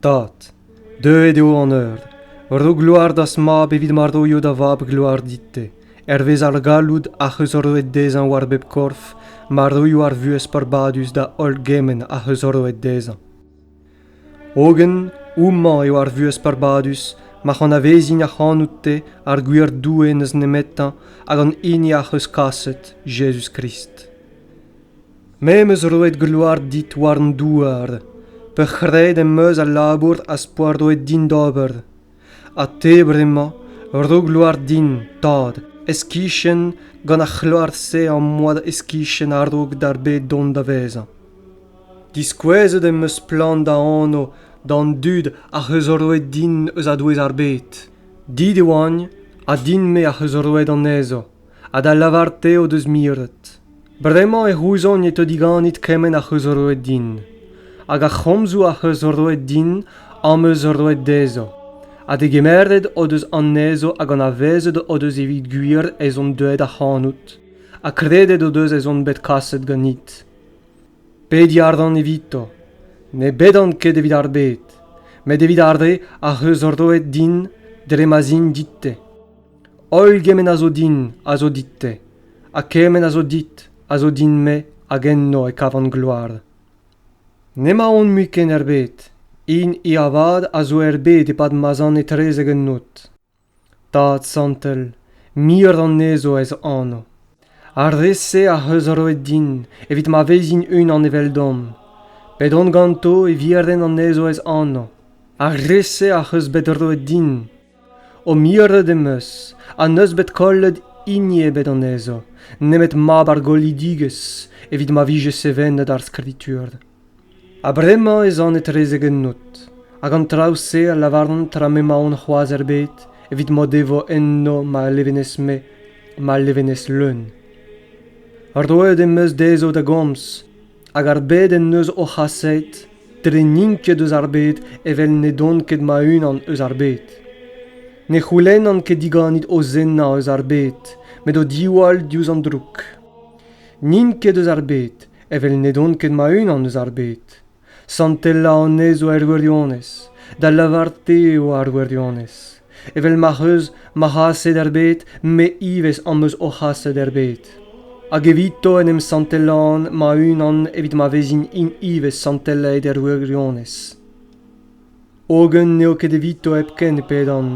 Tad, deuet eo an eur. Ro gloar d'az mab evit ma roio da vab gloar dit-te. Hervez ar galloud ac'h eus roet dezhañ war bep korf, ma roio ar vuhez peurbadus da holl gement ac'h eus roet dezhañ. Hogen, houmañ eo ar vuhez peurbadus ma c'anavezin ac'hanout-te ar gwir Doue n'eus nemetañ hag an hini ac'h eus kaset, Jezuz-Krist. Me 'm eus roet gloar dit war an douar, peurc'hraet em eus al labour az poa roet din d'ober. Ha te bremañ, ro gloar din, tad, ez-kichen gant ar c'hloar-se am boa ez-kichen a-raok d'ar bed dont da vezañ. Diskouezet em eus splann da anv d'an dud ac'h eus roet din eus a-douez ar bed. Dit e oagn, ha din-me ac'h eus roet anezho. ha da lavar te o deus miret bremañ e c'houzogn e teu diganit kement ac'h eus roet din hag ar c'homzoù ac'h eus roet din am eus roet dezho ha degemeret o deus anezho hag anavezet o deus evit gwir ez on deuet ac'hanout ha kredet o deus ez on bet kaset ganit pediñ a ran evito ne bedan ket evit ar bed met evit ar re ac'h eus roet din dre ma'z int dit-te Holl gement a zo din a zo dit-te, ha kement a zo dit a zo din-me hag enno e kavan gloar. N'emaon mui ken er bed, hini avat a zo er bed e-pad ma'z an etrezek un noz. Tad santel, muioc'h anezho ez anv. Ar re-se ac'h eus roet din evit ma vezin unan eveldomp. Bet on ganto e viren anezho ez anv. Ar re-se ac'h eus bet roet din O miret em eus ha n'eus bet kollet hini ebet anezho, nemet mab ar goolidigezh, evit ma vije sevenet ar skritur. Ha bremañ ez an etrezek ennout, hag an traoù-se a lavaran tra m'emaon c'hoazh er bed, evit m'o devo enno ma levenez-me, ma levenez leun. Roet em eus dezho da gomz, Hag ar bed en deus o c'haset dre n'int ket eus ar bed evel n'edont ket ma-unan eus ar bed. Ne c'houlennan ket diganit o zennañ eus ar bed, met o diwall diouzh an droug. N'int ket eus ar bed evel n'edont ket ma-unan eus ar bed. Santelañ anezho er wirionez, da lavar-te eo ar wirionez. Evel ma'c'h eus ma c'haset er bed, me ivez am eus o c'haset er bed. Hag evito en em santelan ma-unan evit ma vezin int ivez santelaet er wirionez. Hogen n'eo ket evito hepken e pedan,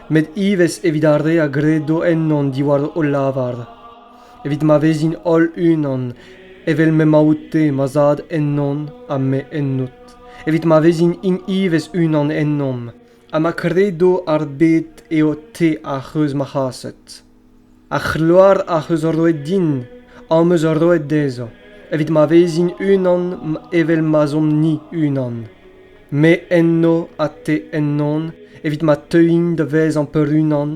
met ivez evit ar re a gredo ennon diwar o lavar, evit ma vezin holl-unan, evel m'emañ oute ma Zad ennon ha me ennout, evit ma vezin int ivez unan ennomp, ha ma kredo ar bed eo te ac'h eus ma c'haset. Ar c'hloar ac'h eus roet din am eus roet dezhañ, evit ma vezin unan evel ma'z omp-ni unan. Me enno ha te ennon, evit ma teuin da vezañ peurunan,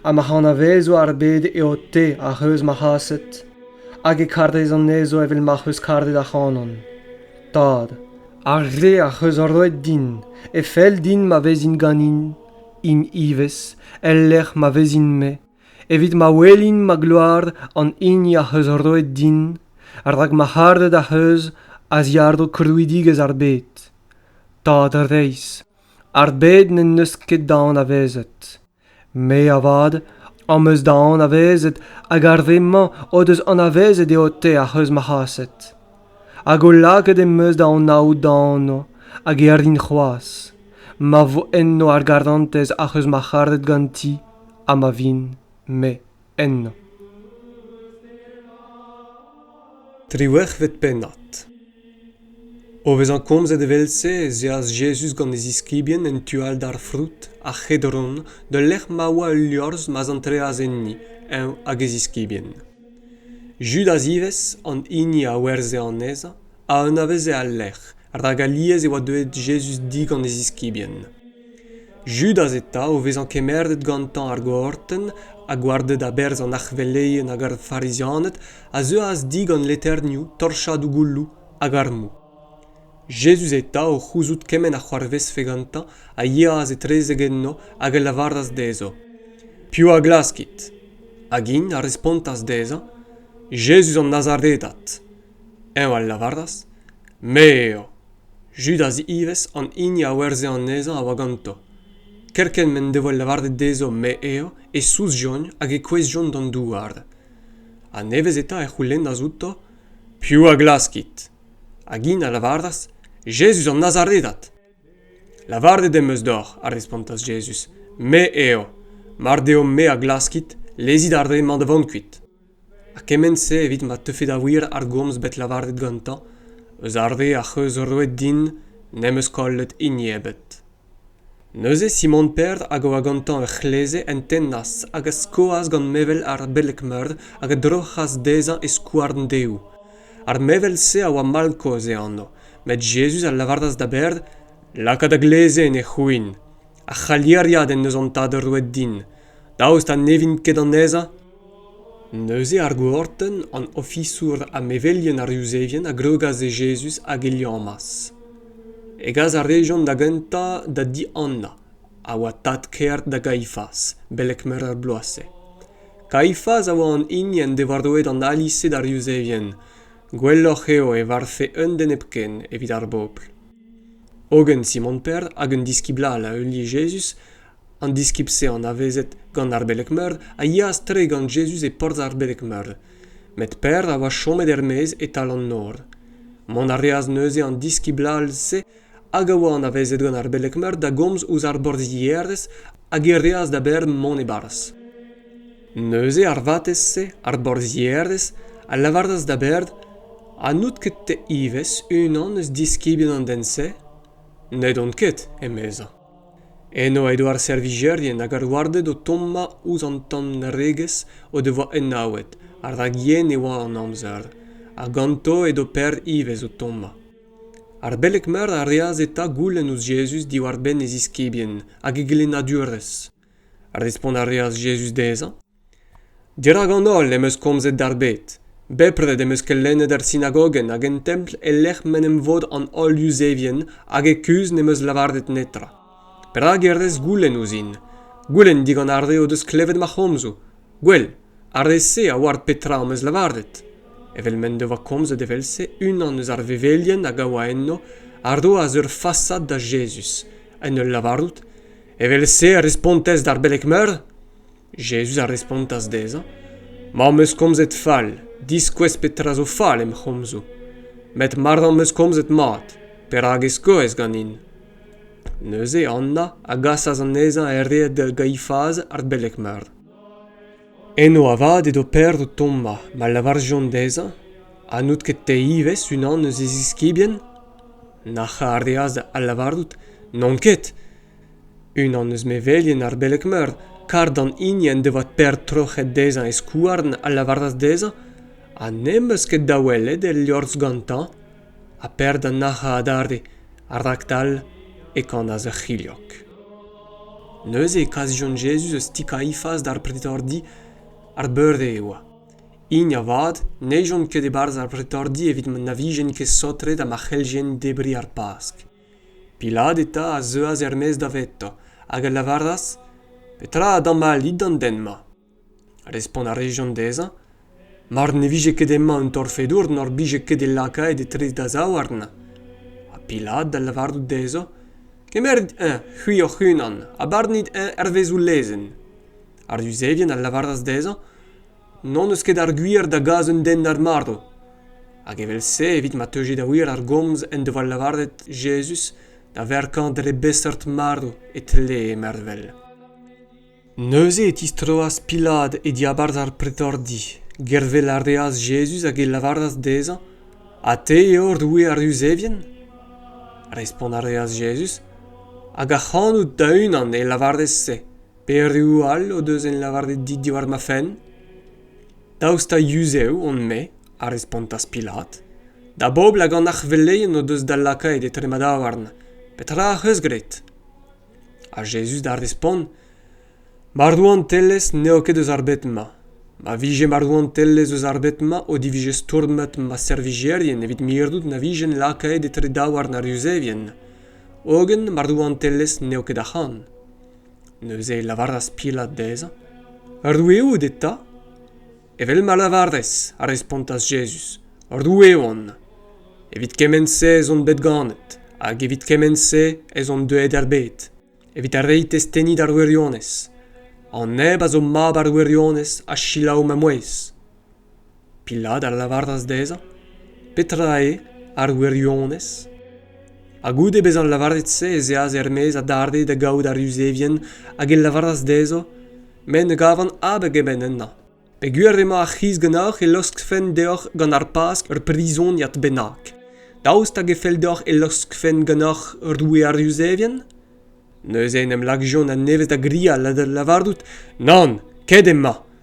ha ma anavezo ar bed eo te ac'h eus ma c'haset, hag e karez anezho evel ma'c'h eus karet ac'hanon. Tad, ar re ac'h eus roet din, e fell din ma vezin ganin, int ivez, el lec'h ma vezin-me, evit ma welin ma gloar an hini ac'h eus roet din, rak ma c'haret ac'h eus a-ziàr-dro krouidigezh ar bed. Tad reizh, ar bed n'en deus ket da anavezet. me avat am eus da anavezet hag ar re-mañ o deus anavezet eo te ac'h eus marc'haset hag o lakaet em eus da anaout da anv hag e rin c'hoazh ma vo enno ar garantez ac'h eus marc'haret ganti ha ma vin me ennañ. Triwec'hvet pennad. O vezañ komzet evel-se ez eas Jezuz gant e ziskibien en tu all d'ar froud, ar C'hedron, d'ul lec'h ma oa ul liorzh ma'z antreas enni, eñ hag e ziskibien. Judas ivez, an hini a werzhe anezhañ, a anaveze al lec'h, rak alies e oa deuet Jezuz di gant e ziskibien. Judas eta o vezañ kemeret gantañ ar gortenn ha gwarded a-berzh an arc'hveleien hag ar Farizianed a zeuas di gant leternioù, torchadoù gouloù hag armoù. Jezuz eta, o c'houzout kement a c'hoarvezfe gantañ, a yeas etrezek enno hag a lavaras dezho, Piv a glaskit? Hag int a respontas dezhañ, Jezuz an Nazaredat. Eñ a lavaras, Me eo. Judas ivez, an hini a werzhe anezhañ, a oa ganto. Kerkent m'en devoa lavaret dezho me eo, e souzjont hag e kouezhjont d'an douar. Ha nevez eta e c'houlennas outo, Piv a glaskit? Hag int a lavaras, Jezuz an Nazaredat. Lavaret em eus deoc'h, a respontas Jezuz, me eo. Mar deo me a glaskit, lezit ar re-mañ da vont kuit. ha kement-se evit ma teufe da wir ar gomz bet lavaret gantañ eus ar re ac'h eus roet din n'em eus kollet hini ebet neuze simon per hag a oa gantañ ur c'hleze en tennas hag a skoas gant mevel ar beleg-meur hag a droc'has dezhañ e skouarn dehoù ar mevel-se a oa mall-kozh e anv met jezuz a lavaras da Ber laka da gleze en e c'houin ar c'haliariad en deus an tad roet din daoust ha ne vint ket anezhañ Neuze ar gourtenn an ofisour ha mevelien ar Yuzevien a grogas e Jezuz hag e liammas. Hegas a rejont da gentañ da di Anna, a oa tad-kaer da Gaifas, beleg meur a bloaz-se. Kaifas a oa an hini en devoa roet an ali-se d'ar Yuzevien. Gwelloc'h eo e varvfe un den hepken evit ar bobl. Hogen Simon Per hag un diskibl all a heulie Jezuz an diskib-se anavezet gant ar beleg-meur a yeas tre gant jezuz e porzh ar beleg-meur met Per a oa chomet er-maez e-tal an nor mont a reas neuze an diskibl all-se hag a oa anavezet gant ar beleg-meur da gomz ouzh ar borzhierez hag e reas da Ber mont e-barzh. Neuze ar vatezh-se, ar borzhierez, a lavaras da Ber ha n'out ket-te ivez unan eus diskibien an den-se? N'edon ket, emezañ. Eno edo ar servijerien hag ar warded o tommañ ouzh an tanregezh o devoa enaouet ha rak yen e oa an amzer ha ganto edo Pêr ivez o tommañ. Ar beleg-meur a reas eta goulenn ouzh Jezuz diwar-benn e ziskibien hag e gelennadurezh. Respont a reas Jezuz dezhañ Dirak an holl em eus komzet d'ar bed. Bepred em eus kelennet er sinagogenn hag en templ e-lec'h m'en em vod an holl Yuzevien hag e kuzh n'em eus lavaret netra. Perak e rez goulenn ouzhin? Goulenn digant ar re o deus klevet ma c'homzoù. Gwell, ar re-se a oar petra am eus lavaret. Evel m'en devoa komzet evel-se unan eus ar vevelien hag a oa enno a roas ur fasad da Jezuz, en ul lavarout, Evel-se a respontez d'ar beleg-meur? Jezuz a respontas dezhañ, Ma 'm eus komzet fall, diskouez petra zo fall em c'homzoù. Met mar am eus komzet mat, perak e skoez ganin? Neuze Anna a gasas anezhañ er red da Gaifaz ar beleg-meur. Eno avat edo Pêr o tommañ ma lavarjont dezhañ ha n'out ket te ivez unan eus e ziskibien? Nac'hañ a reas da lavarout, N'on ket. Unan eus mevelien ar beleg-meur, kar d'an hini en devoa Pêr troc'het dezhañ e skouarn, a lavaras dezhañ ha n'em eus ket da welet e liorzh gantañ. Ha Pêr da nac'hañ adarre, ha raktal e kanas ur c'hilhog. Neuze e kas Jón Jezuz eus ti Kaifas d'ar pretordi. Ar beure e oa. Hini avat ne chom ket e-barzh ar pretordi evit ma na vijent ket saotret ha ma c'helljent debriñ ar Pask. Pilat eta a zeuas er-maez davetañ hag a lavaras Petra a damaillit d'an den-mañ? Respont a rejont dezhañ Mar ne vije ket emañ un torfedour n'hor bije ket e lakaet etre da zaouarn. Ha Pilat da lavarout dezhañ Kemeret eñ c'hwi hoc'h-unan ha barnit eñ hervez ho lezenn. Ar Yuzevien a lavaras dezhañ N'hon eus ket ar gwir da gas un den d'ar marv. Hag evel-se, evit ma teuje da wir ar gomz en devoa lavaret Jezuz da verkañ dre beseurt marv e tlee mervel. Neuze e tistroas Pilat e diabarzh ar pretordi. Gervel a reas Jezuz hag e lavaras dezhañ Ha te eo roue ar Yuzevien? Respont a reas Jezuz Hag ac'hanout da-unan e lavarez se. Pereoù all o deus en lavaret dit diwar ma fenn? Daoust ha yuzev on-me? a respontas Pilat. Da bobl hag an arc'hveleien o deus da lakaet etre ma daouarn. Petra ac'h eus graet? Ha Jezuz da respont, Ma rouantelezh n'eo ket eus ar bed-mañ. Ma vije ma rouantelezh eus ar bed-mañ o divije stourmet ma servijerien evit mirout na vijen lakaet etre daouarn ar Yuzevien. Hogen ma rouantelezh n'eo ket ac'han. Neuze e lavaras Pilat dezhañ, Roue out eta? Evel ma lavarez, a respontas Jezuz, Roue on. Evit kement-se ez on bet ganet, hag evit kement-se ez on deuet er bed, evit reiñ testeni d'ar wirionez. An neb a zo mab ar wirionez a selaou ma mouezh. Pilat a lavaras dezhañ, Petra eo ar wirionez? Ha goude bezañ lavaret-se ez eas er-maez adarre da gaout ar Yuzevien hag e lavaras dezho, Me ne gavan abeg ebet ennañ. Peogwir emañ ar c'hiz ganeoc'h e laoskfen deoc'h gant ar Pask ur prizoniad bennak. Daoust hag e fell deoc'h e laoskfen ganeoc'h roue ar Yuzevien? Neuze en em lakjont a-nevez da grial ha da lavarout, Nann, ket emañ.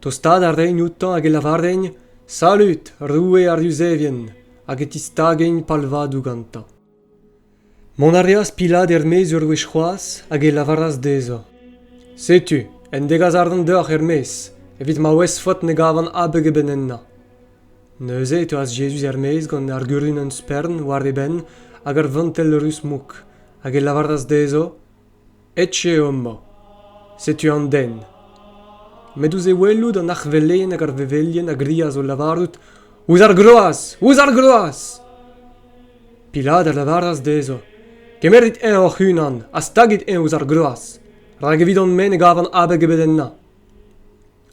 tostaat a raint outañ hag e lavarent salud roue ar yuzevien hag e tistagent palvadoù gantañ mont a reas pilat er-maez ur wech c'hoazh hag e lavaras dezhañ setu un degas arc'hant deoc'h er-maez evit ma ouezfot ne gavan abeg ebet ennañ neuze e teuas Jezuz er-maez gant ar gurunenn spern war e benn hag ur vantell ruz-mouk hag e lavaras dezhañ Echu eo amañ. Setu an den. Met ouzh e welout an arvellenn hag ar vevelien a grias o lavarout Ouzh ar groaz! Ouzh ar groaz! Pilat a lavaras dezho Kemerit eñ hoc'h-unan ha stagit eñ ouzh ar groaz, rak evit hon-me ne gavan abeg ebet ennañ.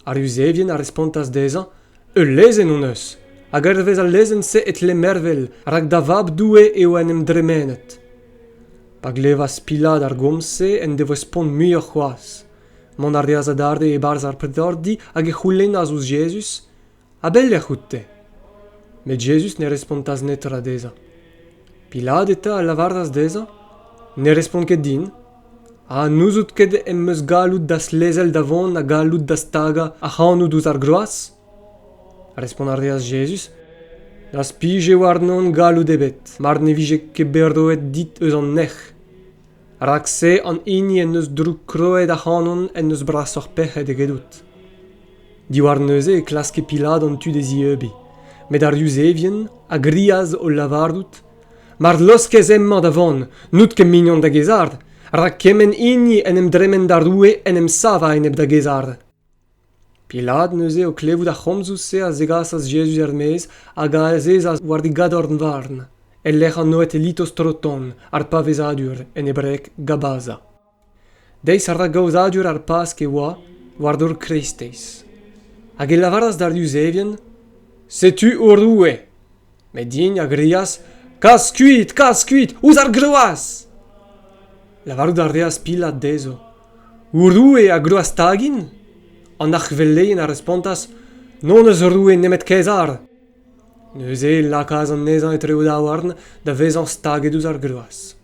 Ar Yuzevien a respontas dezhañ, Ul lezenn hon eus, hag hervez al lezenn-se e tle mervel, rak da Vab Doue eo en em dremenet. Pa glevas Pilat ar gomz-se en devoa spont muioc'h c'hoazh. Mont a reas adarre e-barzh ar pretordi hag e c'houlennas ouzh Jezuz, a-belec'h out-te? Met Jezuz ne respontas netra dezhañ. Pilat eta a lavaras dezhañ, Ne respont ket din, ha n'ouzout ket em eus galloud da'z lezel da vont ha galloud da stagañ ac'hanout ouzh ar groaz? Respont a reas Jezuz, N'az pije warnon galloud ebet, mar ne vije ket bet roet dit eus an nec'h. rak-se an hini en deus droukroet ac'hanon en deus brasoc'h pec'hed egedout. Diwar neuze e klaske Pilat an tu d'e zieubiñ, met ar Yuzevien a grias o lavarout Mar laoskez hemañ da vont, n'out ket mignon da Gezard, rak kement hini en em dremen d'ar roue en em sav a-enep da Gezard. Pilat neuze, o klevout ar c'homzoù-se, a zegasas Jezuz er-maez hag a azezas war e gadorn-varn, e-lec'h an Noetelitos Troton, ar pavezadur, en hebreg Gabaza. Deiz ar ragaozadur ar Pask e oa, war dor kreisteiz. Hag e lavaras d'ar Yuzevien, Setu ho roue! Met din a grias Kas kuit, kas kuit, ouzh ar groaz! Lavarout a reas Pilat dezho, Ho roue a grouas stagin? An arc'hveleien a respontas, N'hon eus roue nemet Kaezar. Neuze e lakaas anezhañ etre o daouarn da vezañ staget ouzh ar groaz.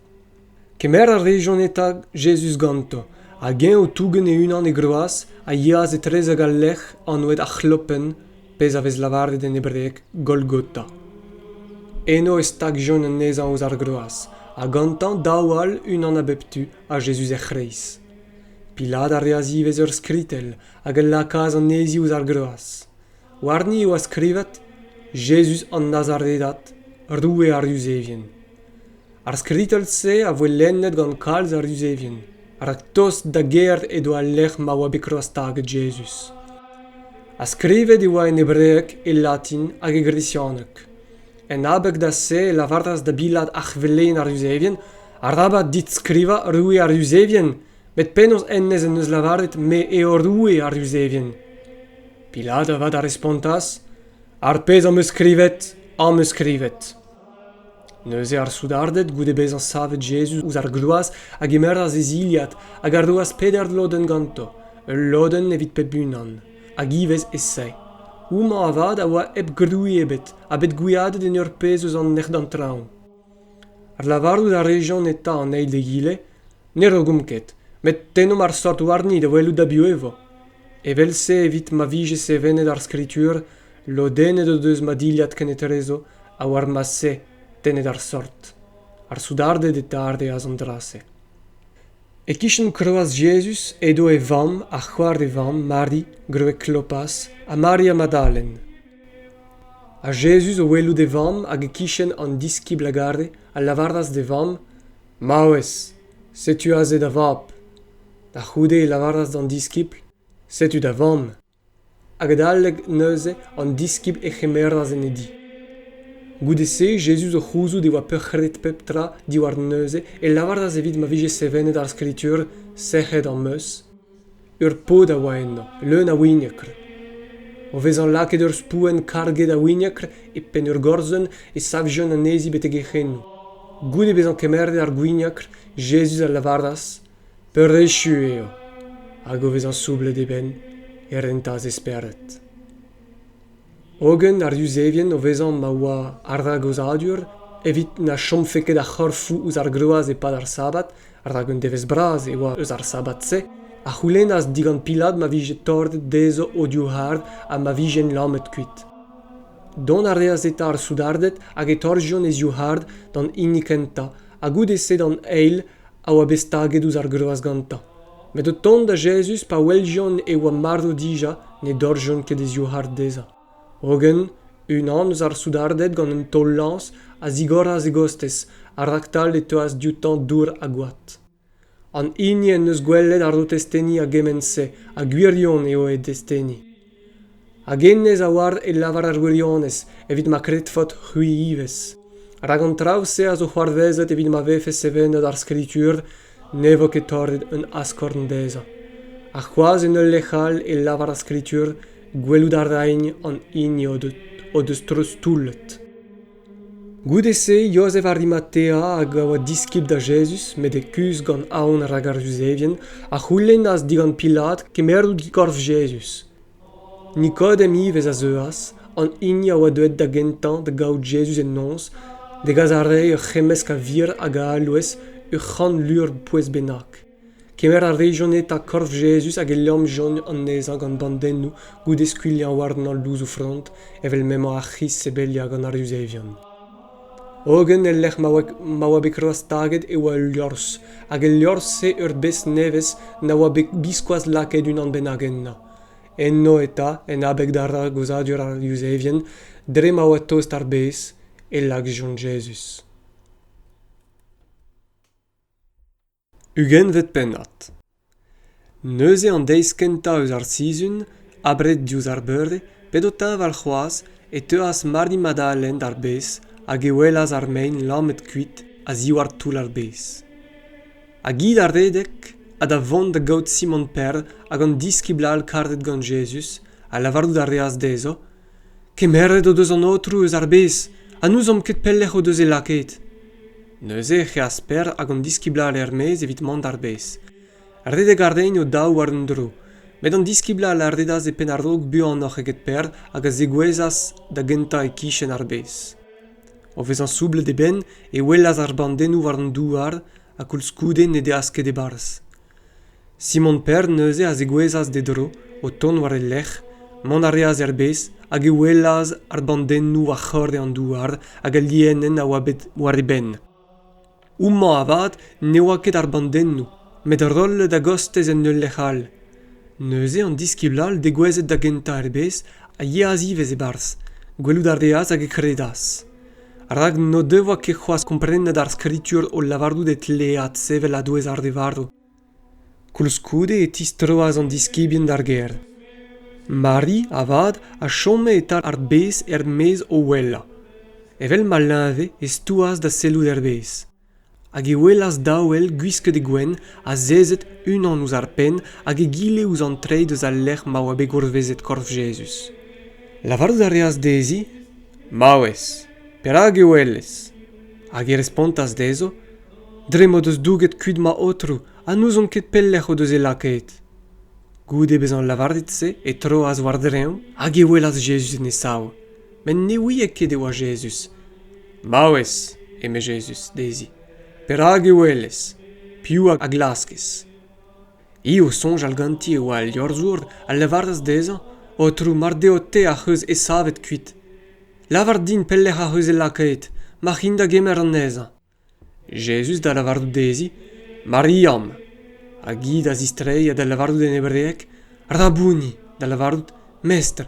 Kemer a rejont eta Jezuz ganto, hag eñ o tougen e-unan e groaz, a yeas etrezek al lec'h anvet ar C'hlopenn, pezh a vez lavaret en hebreg Golgota. Eno e stagjont anezhañ ouzh ar groaz, ha gantañ daou all, unan a bep tu, ha Jezuz er c'hreiz. Pilat a reas ivez ur skritell hag a lakaas anezhi ouzh ar groaz. Warni e oa skrivet: Jezuz an Nazaredat, Roue ar Yuzevien. ar skritell-se a voe lennet gant kalz a ruzevien rak tost da gêr edo al lec'h ma oa bet kroazstaget Jezuz. Ha skrivet e oa en hebreeg, e latin hag e gresianeg. En abeg da se e lavaras da bilat arc'hveleien ar Yuzevien, Arabat dit skrivañ roue ar Yuzevien, met penaos hennezh en deus lavaret me eo roue ar Yuzevien? Pilat avat a respontas, Ar pezh am eus skrivet, am eus skrivet. Neuze ar soudarded, goude bezañ savet Jezuz ouzh ar gloaz, a gemeras e zilhad hag a roas peder lodenn ganto, ul lodenn evit pep unan, hag ivez e-se. Houmañ avat a oa hep grouiñ ebet ha bet gwiadet en ur pezh eus an nec'h-d'an traoñ. Lavarout a rejont eta an eil d'egile, ne rogomp ket, met tennomp ar seurt warni da welout a-biou e vo. Evel-se, evit ma vije sevenet ar Skritur, Lodennet o deus ma dilhad kenetrezo ha war ma se tennet ar sort. Ar soudarded e tardeas an dra-se. E-kichen kroaz Jezuz edo e vamm ha c'hoar e vamm Mari, gwreg Klopas, ha Mari ha Madalen. Ha Jezuz o welout e vamm hag e-kichen an diskibl a gare a lavaras d'e vamm Maouez, setu aze da vab. Da c'houde e lavaras d'an diskibl Setu da vamm. Adalek neuze an diskibl a c'hemeras en e di. Goude-se Jezuz o c'houzout e oa peurc'hret pep tra diwar neuze e lavaras evit ma vije sevenet ar Skritur, Sec'hed am eus. Ur paotr a oa eno, leun a wignekr. O vezañ lakaet ur spouenn karget a wignekr e penn ur gorzenn e savjont anezhi betek e c'henoù. Goude bezañ kemeret ar gwignekr, Jezuz a lavaras, peurechu eo hag o vezañ soublet e benn e rentas e spered hogen ar yuzevien o vezañ ma oa ar ragozadur evit na chomfe ket ar c'horfoù ouzh ar groaz e-pad ar sabad rak un devezh bras e oa eus ar sabad-se a c'houlennas digant Pilad ma vije torret dezho o divc'hard ha ma vijent lamet kuit dont a reas eta ar soudarded hag e torrjont e zivc'hard d'an hini kentañ ha goude-se d'an eil a oa bet staget ouzh ar groaz gantañ met o tont da jezuz pa weljont e oa marv dija ne dorrjont ket e zivhard dezhañ hogen unan eus ar soudarded gant un taol-lañs a zigoras e gostez ha raktal e teuas dioutañ dour ha gwad an hini en deus gwelet ar o testeni a gement-se ha gwirion eo e desteni Hag hennezh a oar e lavar ar wirionez evit ma kredfot c'hwi ivez. Rak an traoù-se a zo c'hoarvezet evit ma vefe sevenet ar Skritur ne vo ket torret un askorn dezhañ. Ha c'hoazh en ul lec'h all e lavar ar Skritur gwelout a raint an hini o deus treuztoullet. Goude-se Jozef Arimatea hag a oa diskibl da Jezuz met e kuzh gant aon rak ar Juzevien, a c'houlennas digant Pilat kemmerout korf Jezuz. Nikodem ivez a zeuas, an hini a oa deuet da gentañ da gaout Jezuz en noz, da gas àrezhi ur c'hemmesk a vir hag a alouez ur c'hant lur pouez bennak. Kemer a rejont eta korf Jezuz hag e liamjont anezhañ gant bandennoù goude skuilhañ warnañ louzoù-frond evel m'emañ ar c'hiz sebeliañ gant ar Yuzevion. Hogen el lec'h ma oa, ma oa bet kroazstaget e oa ul liorzh, hag el liorzh-se ur bez nevez na oa bet biskoazh lakaet unan bennak ennañ. Enno eta, en abeg da ragozadur ar Yuzevien, dre ma oa tost ar bez, e lakjont Jezuz. ugentvet pennad. Neuze an deiz kentañ eus ar sizhun, abred diouzh ar beure, pet o teñval c'hoazh, e teuas Mardi Madalen d'ar bez hag e welas ar mein lammet kuit a-ziwar toull ar bez. Hag hi da redek ha da vont da gaout Simon Perl hag an diskibl all kartet gant Jezuz ha lavarout a reas dezho Kemeret o deus an Aotrou eus ar bez ha n'ouzomp ket pelec'h o deus e lakaet. Neuze ec'h eas Per hag an diskiblal er-maez evit mont d'ar bez. Redek a raent o daou war un dro, met an diskiblal a redas e penn a-raok buanoc'h eget Per hag a zegouezhas da gentañ e-kichen ar bez. O vezañ soublet e benn e welas ar bandennoù war an douar ha koulskoude ne deas ket e-barzh. Simon Pern neuze a zegouezhas d'e dro, o tont war e lerc'h, mont a reas er bez hag e welas ar bandennoù war c'horre an douar hag al lienenn a oa bet war e benn. Houmañ avat ne oa ket ar bandennoù, met rollet a-gostez en ul lec'h all. Neuze an diskibl all degouezhet da gentañ er bez a yeas ivez e-barzh, gwelout a reas hag e kredas. rak n'o devoa ket c'hoazh komprenet ar skritur o lavarout e tlead sevel a-douez ar re varv. Koulskoude e tistroas an diskibien d'ar gêr. Mari, avat, a chome e-tal ar bez er-maez o ouelañ. Evel ma leñve, e stouas da sellout er bez. hag e welas daou ell gwisket e gwenn azezet unan ouzh ar penn hag egile ouzh an treid eus al lec'h ma oa bet gourvezet korf Jezuz. Lavarout a reas dezhi Maouez, perak e welez? Hag e respontas dezho Dre m'o deus douget kuit ma Aotrou ha n'ouzon ket pelec'h o deus e lakaet. Goude bezañ lavaret se e troas war-dreñv hag e welas Jezuz en e sav. met ne ouie ket e oa Jezuz. Maouez, eme Jezuz dezhi, perak e welez? Piv a glaskez? Hi o soñjal ganti e oa al liorzhour a lavaras dezhañ, Aotrou, mar deo te ac'h eus e savet kuit. Lavar din pelec'h ac'h eus e lakaet, mac'h in da gemer anezhañ. Jezuz da lavarout dezhi, Mariam! Hag hi da zistreiñ ha da lavarout en hebreg, Rabouni! da lavarout, Mestr!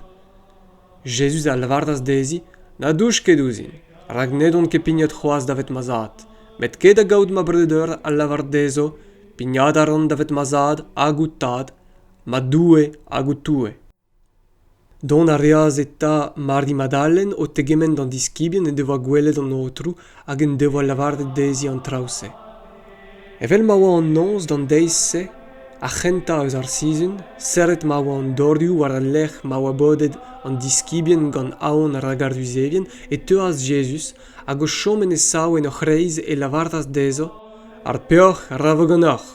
Jezuz a lavaras dezhi, Na douch ket ouzhin, rak ned on ket pignat c'hoazh davet ma zad. Met ket da gaout ma breudeur a lavar dezho, Pignat a ran davet ma zad hag ho tad, ma Doue hag ho Toue. Dont a reas eta Mari Madalen o tegemenn d'an diskibien en devoa gwelet an Aotrou hag en devoa lavaret dezhi an traoù-se. Evel ma oa an noz d'an deiz-se, ar c'hentañ eus ar sizhun, serret ma oa an dorioù war al lec'h ma oa bodet an diskibien gant aon rak ar Yuzevien, e teuas Jezuz hag o chom en e sav en o c'hreiz e lavartas dezho, Ar peoc'h a ra va ganeoc'h.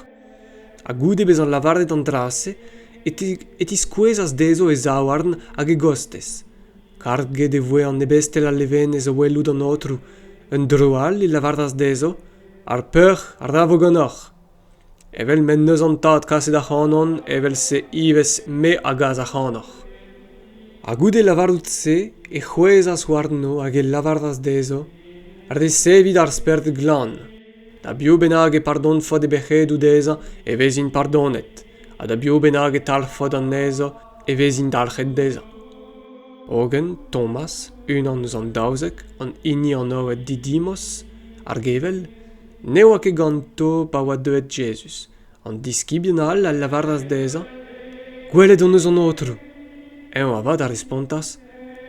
ha goude bezañ lavaret an dra-se e tiskouezas dezho e zaouarn hag e gostez karget e voe an ebestel a levenez o welout an aotrou un dro all e lavaras dezho ar peoc'h ra vo ganeoc'h evel m'en deus an tad kaset ac'hanon evel-se ivez me a gas ac'hanoc'h ha goude lavarout se e c'hwezhas warno hag e lavaras dezho resevit ar spered glan Da biv bennak e pardonfot e bec'hedoù dezhañ e vezin pardonet ha da biv bennak e talc'hfot anezhañ e vezin dalc'het dezhañ. Hogen Thomas, unan eus an daouzek, an hini anvet Didimos, ar gevell, ne oa ket ganto pa oa deuet Jezuz, An diskibien all a lavaras dezhañ, Gwelet hon eus an Aotrou. Eñ avat a respontas,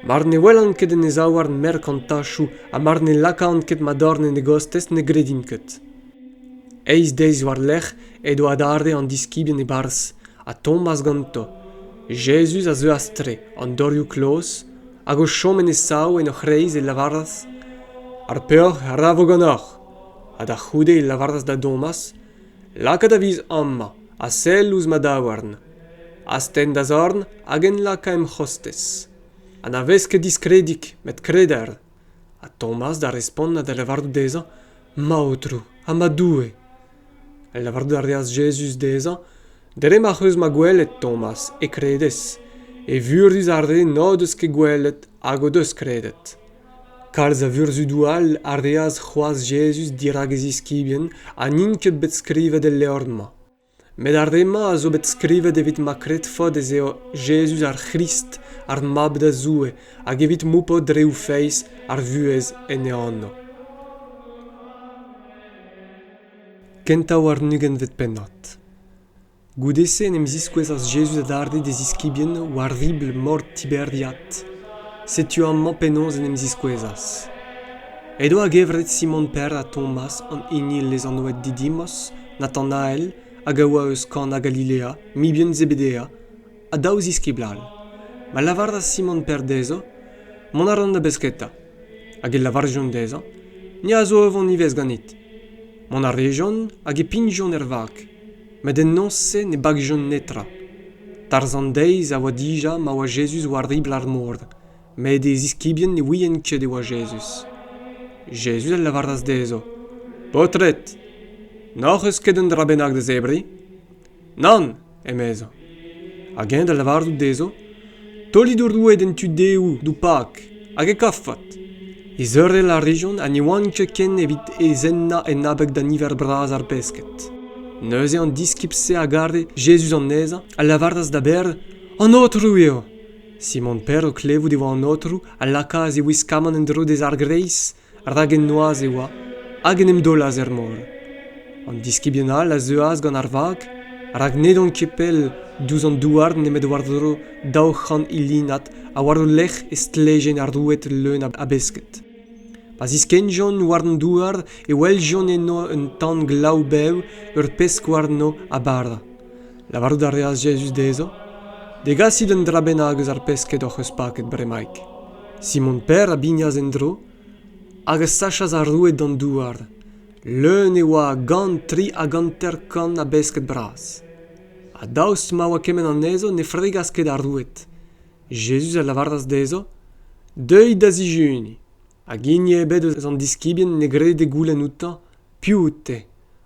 Mar ne welan ket en e zaouarn merkantachoù ha mar ne lakaan ket ma dorn en e gostez ne gredim ket. Eizh deiz war-lerc'h edo adarre an diskibien e-barzh, ha Tomas ganto. Jezuz a zeuas tre, an dorioù kloz, hag o chom en e sav en o c'hreiz e lavaras, Ar peoc'h a ra vo ganeoc'h. Ha da c'houde e lavaras da Domas, lakaat a viz amañ ha sell ouzh ma daouarn astenn da zorn hag enlakañ em c'hostez ha na vez ket diskredig met kreder ha tomas da respont ha da lavarout dezhañ ma aotrou ha ma doue lavarout a reas jezuz dezhañ dre ma'c'h eus ma gwelet tomas e kredez evurus ar re n'o deus ket gwelet hag o deus kredet Kalz a vurzhudoù all a reas c'hoazh Jezuz dirak e ziskibien ha n'int ket bet skrivet el levr-mañ. Met ar re-mañ a zo bet skrivet evit ma kredfot ez eo Jezuz ar C'hrist, ar Mab da Zoue, hag evit moupot reoù feiz ar vuhez en e anv. Kentañ warn-ugent pennad. Goude-se en em ziskouezas Jezuz adarre d'e ziskibien war ribl mor Tiberiad. Setu amañ penaos en em ziskouezas. Edo a-gevret Simon Per ha Tomas, an hini lezanvet Didimos, Natanael, hag a oa eus Kana Galilea, mibien Zebedea, ha daou ziskibl all. Ma lavaras Simon Per dezho, Mont a ran da besketa. Hag e lavarjont dezhañ, Ni a zo o vont ivez ganit. Mont a rejont hag e pignjont er vag. Met en noz-se ne bagjont netra. Tarzh an deiz a oa dija ma oa Jezuz war ribl ar mor, met e ziskibien ne ouient ket e oa Jezuz. Jezuz a lavaras dezho, Paotred, n'hoc'h eus ket un dra bennak da zebriñ? Nann, emezañ. Hag eñ da lavarout dezho, Taolit ho roued en tu dehoù d'ho pak hag e kavfot. Izerel a rejont ha ne oant ket ken evit ezennañ en abeg da niver bras ar pesked. Neuze an diskibl-se a gare Jezuz anezhañ a lavaras da Ber, An Aotrou eo! Simon Per, o klevout e oa an Aotrou, a lakaas e wiskamant en-dro dezhañ ar greiz rak en noazh e oa hag en em daolas er mor. An diskibien all a zeuas gant ar vag rak n'edont ket pell diouzh an douar nemet war-dro daou c'hant ilinad ha war o lerc'h e stlejen ar roued leun a besked. Pa ziskennjont war an douar e weljont eno un tan glav-bev, ur pesk warno ha bara. Lavarout a reas Jezuz dezho, Degasit un dra bennak eus ar pesked hoc'h eus paket bremaik. Simon Per a bignas en-dro hag a sachas ar roue d'an douar. Leun e oa a gant tri hag hanter-kant a besked bras. Ha daoust ma oa kement anezho, ne fregas ket ar roued. Jezuz a lavaras dezho, Deuit da zijuni. Hag hini ebet eus an diskibien ne grede goulenn outañ piv out-te.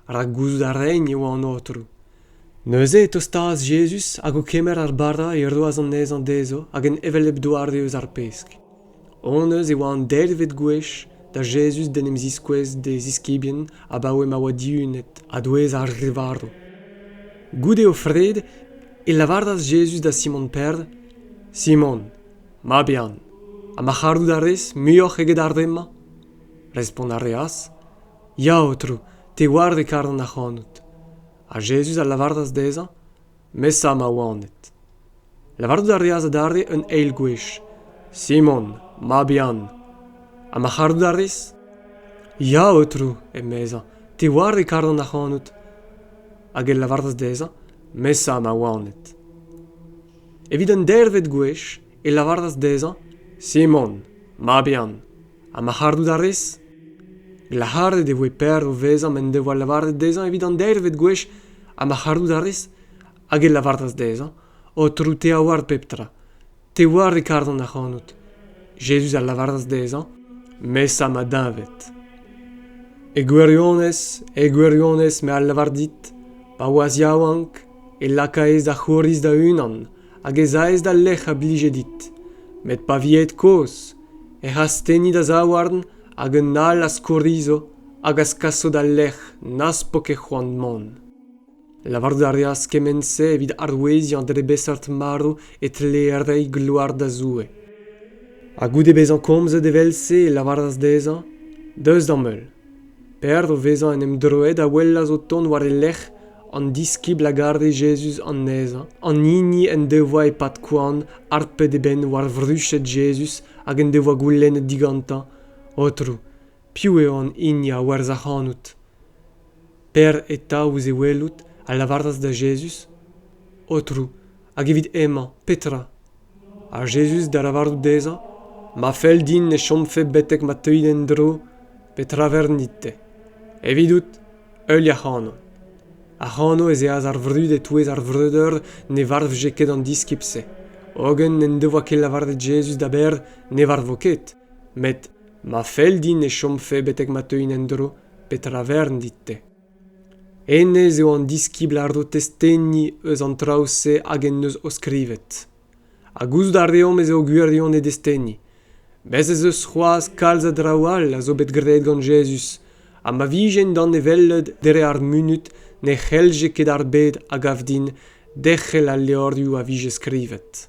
rak gouzout a raen e oa an Aotrou. Neuze e tostaas Jezuz hag o kemer ar bara e roas anezhañ dezho hag en hevelep doare eus ar pesk. Honnezh e oa an deirvet gwech da Jezuz d'en em ziskouez d'e ziskibien abaoe ma oa dihunet a-douez ar re varv. Goude o fred e lavaras Jezuz da Simon Perl, Simon, mab Yann, ha ma c'hallout a rez muioc'h eget ar re-mañ? Respont a reas, Ya, Aotrou, te oar e karan ac'hanout. Ha Jezuz a lavaras dezhañ, Mesa ma oaned. Lavarout a reas adarre un eil gwech, Simon, mab Yann. Ha ma c'harout a rez? Ya, Aotrou, emezañ, te oar e karan ac'hanout. Hag e lavaras dezhañ, Mesa ma oaned. Evit un deirvet gwech e lavaras dezhañ, Simon, mab Yann. ha ma c'harout a rez glac'haret e voe Per o vezañ m'en devoa lavaret dezhañ evit an deirvet gwech ha ma c'harout a rez hag e lavaras dezhañ aotrou te a oar pep tra te oar e karan ac'hanout jezuz a lavaras dezhañ mesa ma deñved e gwirionez e gwirionez me a lavar dit pa oas yaouank e lakaez da c'houriz da-unan hag ez aez d'al lec'h a blije dit met pa vi aet kozh ec'h asteni da zaouarn hag un all a skourizo hag a skaso d'al lec'h n'az po ket c'hoant mont lavarout a reas kement-se evit aroueziañ dre beseurt marv e tlee reiñ gloar da Zoue ha goude bezañ komzet evel-se e lavaras dezhañ deus d'am heul P'ec'h o vezañ en em droet a welas o tont war e lerc'h an diskibl a gare Jezuz anezhañ, an hini en devoa e-pad koan harpet e benn war vruched Jezuz hag en devoa goulennet digantañ, Aotrou, piv eo an hini a werzh ac'hanout? P'ec'h eta ouzh e welout, a lavaras da Jezuz, Aotrou, hag evit hemañ, petra? Ha Jezuz da lavarout dezhañ, Ma fell din e chomfe betek ma teuit en-dro, petra vernit te? Evidout, heuliañ ac'hano. Ac'hano ez eas ar vrud e-touez ar vreudeur ne varvje ket an diskibl-se. Hogen n'en devoa ket lavaret Jezuz da berr ne varvo ket. Met ma fell din e chomfe betek ma teuin en-dro, petra vern dit-te? Hennezh eo an diskibl a ro testeni eus an traoù-se hag en deus o skrivet. Ha gouzout a reomp ez eo gwirionez desteni. Bez' ez eus c'hoazh kalz a draoù all a zo bet graet gant Jezuz, ha ma vijent danevellet dre ar munud ne c'hellje ket ar bed a gav din derc'hel al levrioù a vije skrivet.